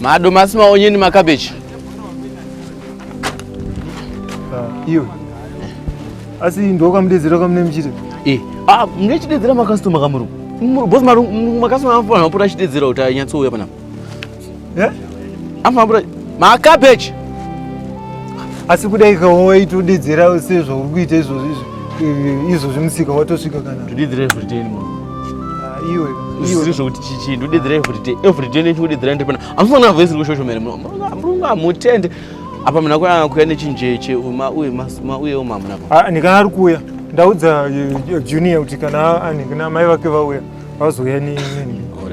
Madomasi, maonyeni, makabeji. Ah, iwe. Asi ndokamudedzera kamune mchire. Eh, ah, mune chidedzera makasitoma kamuru. Boss maru makasitoma anofana kupota achidedzera kuti anyatso uya panapa. Eh? Anofana kupota makabeji. Asi kudai kawo waitodedzera sezvo uri kuita izvozvo izvozvo musika watosvika kana. Tudedzera zviteni. iwe zvisiri zvekuti chichi ndodedzera everyday everyday nechikudedzera ndiri pana amufanira voice iri kushoshomera murungu amutende apa muna kuya kuya nechinjeche uma uye masuma uye uma muna ah, ni kana ari kuya ndaudza eh, junior kuti kana ani kana mai vake vauya vazouya ni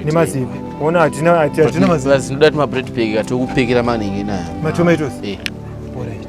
ni mazipi ona hatina hatina mazipi ndodati ma bread bag atokupekera maningi na ma tomatoes eh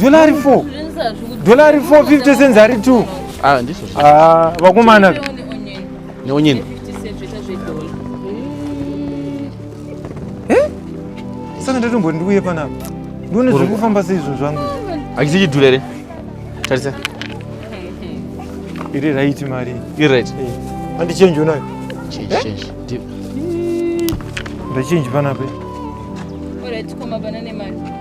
dolari 4 dolari 4 50 cents ari 2 ah, ah, vakomana neonyeni eh? saka ndatombo ndiuye panapa ndione zviri kufamba seizvo zvangu akisi chidhura here tarisa iri right mari iri right eh, andichenji unayo ndachenji panape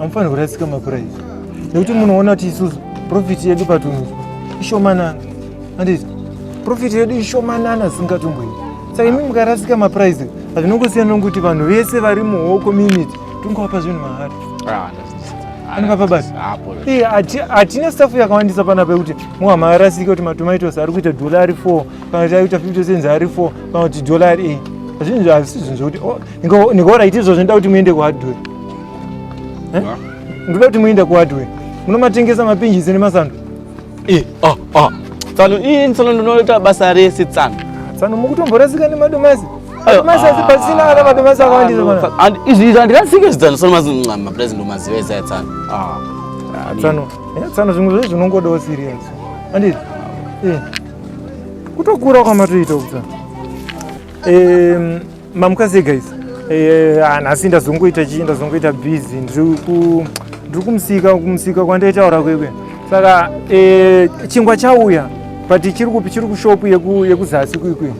amufanira kurasika makura izvi nekuti munoona kuti isusu profiti yedu patunhu ishomanana anditi profiti yedu ishomanana singatomboiti saka imi mukarasika mapuraizi hazvinongosiyana nokuti vanhu vese vari muho community tingowapa zvinhu mahari ah, anopapa basi hatina stafu yakawandisa pana pekuti muhama arasike kuti matomaitos ari kuita dolari four kana kuti aita fifty cents ari four kana kuti dolari eight hazvinhu hazvisi zvinhu zvokuti oh, ndikaora iti izvo zvinoda kuti muende kuhadhuri Eh? Ndoda kuti muende kuhardware. Munomatengesa mapinjisi nemasando. Eh, ah, ah. Tsano, ii nsano ndinoita basa rese tsano. Tsano mukutomborasika nemadomasi. Madomasi asi pasina kana madomasi akawandisa bana. And izvi izvi andikasike zvidzano tsano mazi ncama plus ndomaziva esa tsano. Ah. ah tsano, eh, tsano zvimwe zvezvi zvinongodawo serious. Anditi? Eh. Kutokura kwamatoita ukutsano. Eh, Mamukasei guys. Eh, ah, nhasi ndazongoita chii ndazongoita busy ndiri ndiri kumusika kumusika kwandaitaura kwekwe saka eh, chingwa chauya but chiri kupi chiri kushopu yekuzasi kwikwi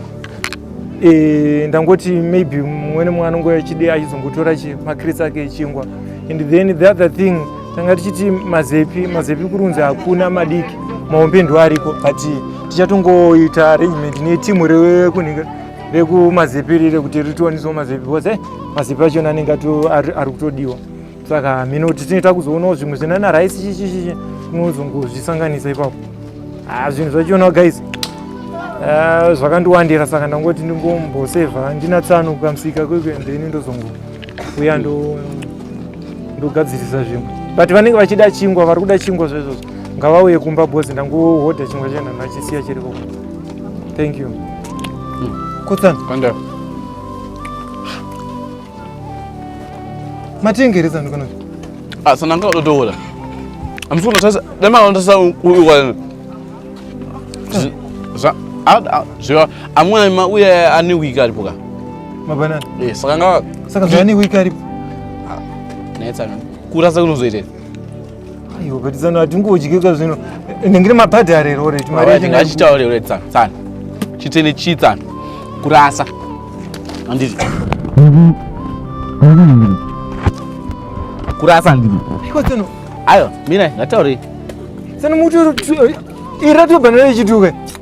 eh, ndangoti maybe mumwene mwana ngo yachide achizongotora makirisi ake echingwa and then the other thing tanga tichiti mazepi mazepi kurunzi hakuna madiki mahombe ndo ariko but tichatongoita arrangement netimu rekunhika rekumazipiri rekuti ritiwaniswa mazipi because eh, mazipi achona anenge ari kutodiwa saka mhino kuti tine takuzoonawo zvimwe zvina na rice chichichichi unozongozvisanganisa ipapo ah, zvinhu zvachionawo guys ah, zvakandiwandira saka ndangoti ndingombosevha ndina tsano kukamusika kwekuendeni ndozongouya ndogadzirisa zvimwe but vanenge vachida chingwa vari kuda chingwa zvezvozvo ngavauye kumba bhozi ndangohodha chingwa chenhanhu achisiya chirikoko Thank you. Mm. Kutsan. Kanda. Matingi risa ndikono. Ah, sana nga ododola. I'm just gonna tell you, let me understand who you are. Za, ah, zwa, amuna ma uye ani wika alipoka. Mabana. Eh, saka nga. Saka zwa ani wika alipoka. Ah, netsa. Kurasa kunozoitela. Ayo but zano hatingodyika zvino ndingiri mapadhi arero ore mari yake ngachitaure ore tsana tsana chitene chi tsana kurasa andiri kurasa andiri iko tsano ayo mina ngataure tsano mutu ira tobhanira ichituke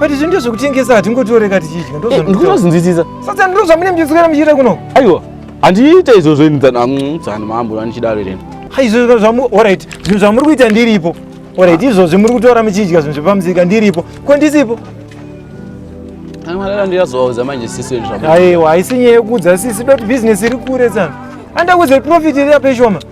but izvi ndizvo kutengesa hatingotoreka tichidya ndozvandinozinzwisisa eh, sasa ndiro zvamune muchitswera muchiita kuno aiwa handiite izvozvo ini dzana mm, dzana mambo vanichidaro ireni ha izvo zvamu orit zvinhu zvamuri kuita ndiripo orit ah. izvozvi muri kutora muchidya zvinhu zvepamusika ndiripo ko ndisipo amalala ndiyazovaudza manje sisi aiwa haisi nyaya yekuudza sisi doti bhizinesi iri kure tsana andakuudza profit iri yapeshoma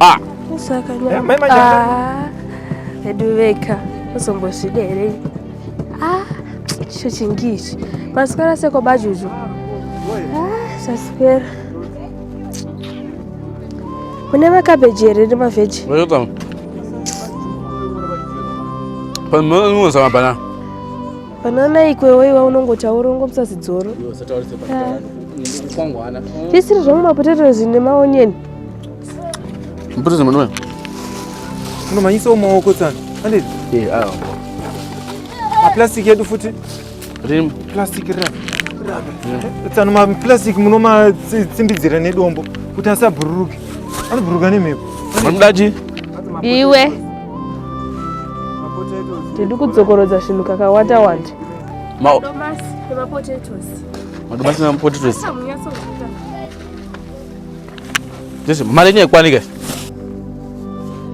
Ah. Eh, mai manja. Ah. Edu veka. Usombozvidere. Ah. Icho chingi ichi. Maswera seko bajuju. Ah, saswera. Mune makabeji here nemaveji? Welcome. Panonoza mabanana. Banana ikwewe iwa unongotaura ungopisa zidzoro. Tisiri zvamwe mapotatoes nemaonyeni. Mbuzi mwana. Unomanyisa umaoko tsana. Andidi. Eh, awo. Ma plastic yedu futi. Rim. Plastic ra. Tsana ma plastic munoma tsimbidzira nedombo kuti asabhururuke. Anobhururuka nemhepo. Mamdaji. Iwe. Tiri kudzokorodza zvinhu kakawanda wanda. Ma. Madomasi nemapotatoes. Madomasi nemapotatoes. This mari yenyu haikwani guys.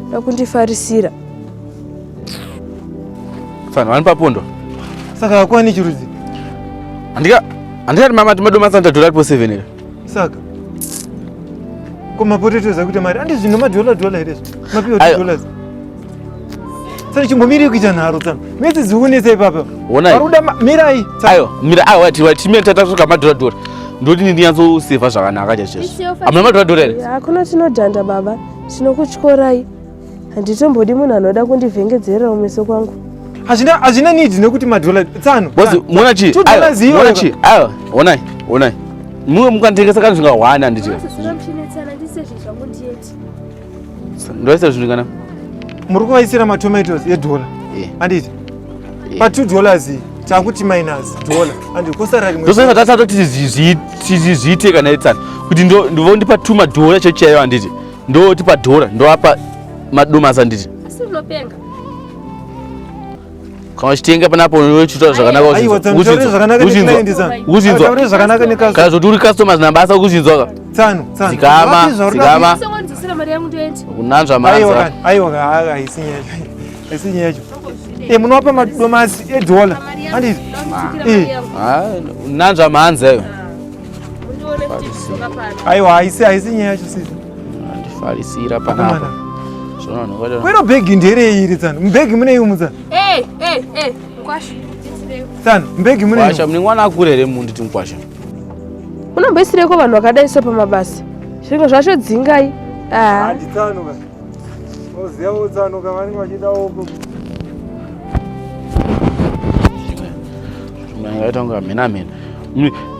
Ndakundifarisira. Fana wani papondo. Saka hakwani chirudzi. Andika andika mama timadoma santa dollar po 7 here. Saka Ko mapotato zakuita mari andizvino madollar dollar here. Mapiwa dollars. Sasa chimbomirei kuita nharo tsano. Mese zikunetsa ipapa. Ona. Varuda mirai. Ayo, mira ayo wati wati mira tata soka madora dora. Ndoti ndi nyatso save zvakanaka chacho. Amuna madora dora here? Hakuna tinodhanda baba. Tinokutyorai. Handitombodi munhu anoda kundivhengedzera umeso kwangu. Hazvina hazvina need nekuti madora tsano. Bozi, muona chi? Ayo. Muona chi? Ayo, onai. Onai. Mumwe mukanditengesa kana zvingawana nditi. Sasa sasa mchinetsana ndisezvi zvangu ndiye. Ndoisa zvinhu kana muri kuvaisira matomatoes edhora eh. anditi eh. pa two dollars takuti minus dollar anditi kosara rimwe ndosaka tasatoti zviite kana etsana kuti ndovondipa two madhora chechi yayo anditi ndotipa dhora ndoapa madomasi anditi asi unopenga kana uchitenga panapo unochiita zvakanaka uchinzwakana zvoti uri customers nabasa ukuchinzwaka dzikama dzikama unanzva maaiwa haisi nyaya haisi nyaya yacho e munopa madomasi edola andii nanzva mhanzi ayo aiwa haisi haisi nyaya yacho sisi andifarisira panapa kwero bhegi nderei iri tsano mubhegi mune iumu tsano tsano mubhegi munekwasha mune mwana akure here mundi ti mukwasha unomboisireko vanhu vakadai so pamabasa zvinhu zvacho dzingai anditsanuka oziva votsanuka vanenge vachida oko manga ita kunga mhena mhena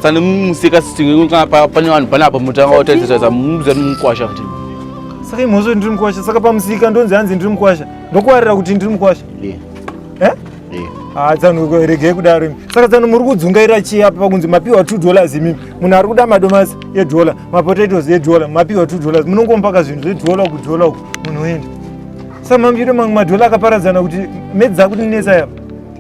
tsane museka sitingekunga pane vanhu pane apa mutanga wataitataisa muza mukwasha kuti saka imhozvo ndiri mukwasha saka pamusika ndonzi hanzi ndiri mukwasha ndokuwarira kuti ndiri mukwasha eh? ah, tsano regei kudaro imi saka tsano muri kudzungaira chii apa pakunzi mapiwa two dollars imimi munhu ari kuda madomasi edhola mapotatoes edhola mapiwa two dollars munongompaka zvinhu zvedhola uku dhola uku munhu oenda saka mamiro mamwe madhola akaparadzana kuti medzi dzakutinetsa yapa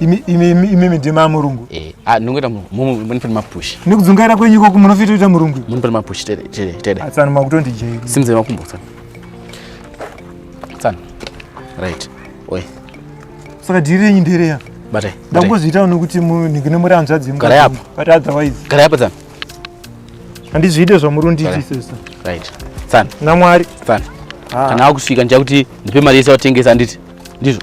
imimi ndima murungu eh, ah, ndingoita munipani mapush nekudzungaira kwenyu ikoko munofita kuita murungu munipani mapush tedeatsano makutondijei simzai makumbo tsano tsano right oy saka dhiri renyu ndereya batai ndakuzviitawo nekuti ndine muri hanzvadzi garai apo but otherwise garai apo tsano handizviite zvamurundiitisesa right tsano namwari tsano ah. kana akusvika ndichakuti ndipe mari yese watengesa anditi ndizvo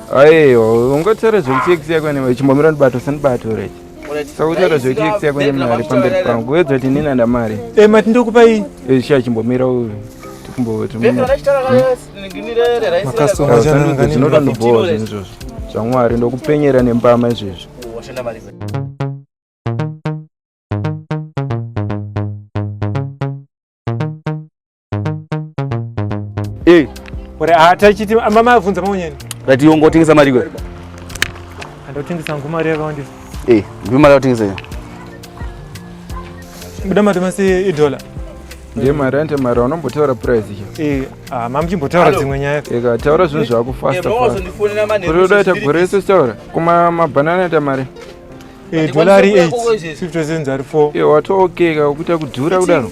Aiwa, ungotaura zvekuti ex yako newe chimbomira ndibato sandibato rech. Sautaura zvekuti ex yako nemari pamberi pangu. Wedza kuti nini anda mari. Eh mati ndokupa iyi. Eh sha chimbomira uyu. Tikumbo timbo. Makasoma jana ngani. Ndinoda ndibhowa zvinhu izvozvo. Zvamwari ndokupenyera nembama izvezvi. Washanda mari. Hey. Ore atachiti ah, mama avunza maunyeni. Rati yongo otengesa mari kwe. Andotengesa ngo mari yakawanda. Eh, hey, ndi mari otengesa ya. Buda mari mase i dollar. Ndiye mari ante mari unombotaura price ya. Eh, ah mama chimbotaura dzimwe nyaya. Eh, ka taura zvinhu zvako fast. Eh, mama sondifonera mane. Kuri udaita gore isu taura. Kuma mabanana ata mari. Eh, dollar 8. 50 cents ari 4. Eh, wato okay ka ukuta kudhura kudaro.